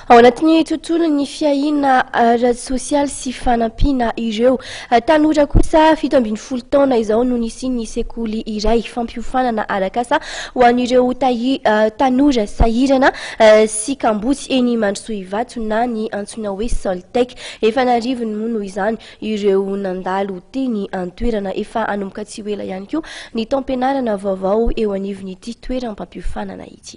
Ao anatin'ny tontolon'ny fiahiana ara-tsosialy sy fanampiana ireo tanora kosa fito ambin'ny folo taona izao no nisian'ny sekoly iray fampiofanana arakasa ho an'ireo tanora sahirana sy kamboty eny Mandrosoivato na ny antsoina hoe Soltec. Efa an'arivony moa noho izany ireo nandalo teny an-toerana. Efa hanomboka tsy ho ela ihany koa ny taom-pianarana vaovao eo anivon'ity toeram-pampiofanana ity.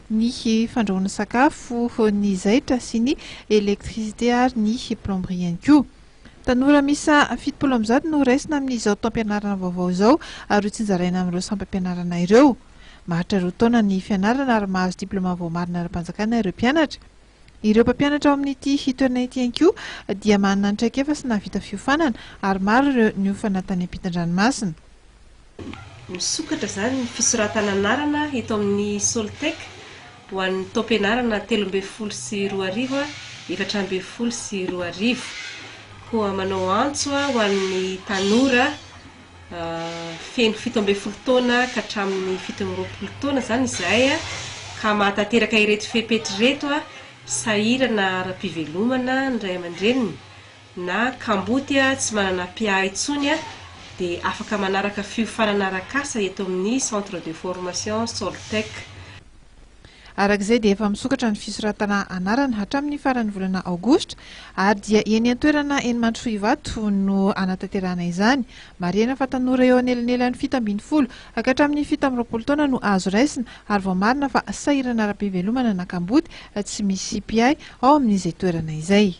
ny fandrahoana sakafo, ny zaitra sy ny électricité ary ny plomberie ihany koa. Tanora miisa fitopolo amby zato no raisina amin'izao taom-pianarana vaovao izao ary hotsinjaraina amin'ireo sampam-pianarana ireo. Maharitra roa taona ny fianarana ary mahazo diplaoma voamarina ara-panjakana ireo mpianatra. Ireo mpampianatra ao amin'ity toerana ity ihany koa dia manana ny traikefa sy nahavita fiofanana ary maro ireo niofana tany am-pitan-dranomasina. Misokatra izany ny fisoratana anarana eto amin'ny Soltec ho an'ny taom-pianarana telo ambin'ny folo sy roa arivo, efatra ambin'ny folo sy roa arivo. Koa manao antso ho an'ny tanora feno fito ambin'ny folo taona ka hatramin'ny fito amby roapolo taona izany izahay ka mahatanteraka ireto fepetra ireto, sahirana ara-pivelomana ny ray aman-dreniny, na kamboty tsy manana mpiahy intsony dia afaka manaraka fiofanana arak'asa eto amin'ny Centre de Formation Soltech. Araka izay dia efa misokatra ny fisoratana anarana hatramin'ny faran'ny volana aogositra ary dia eny an-toerana eny Mandrosoivato no hanatanterahana izany. Marihina fa tanora eo anelanelan'ny fito ambin'ny folo hatramin'ny fito amby roapolo taona no azo raisina ary vao marina fa sahirana ara-pivelomana na kamboty tsy misy mpiahy ao amin'izay toerana izay.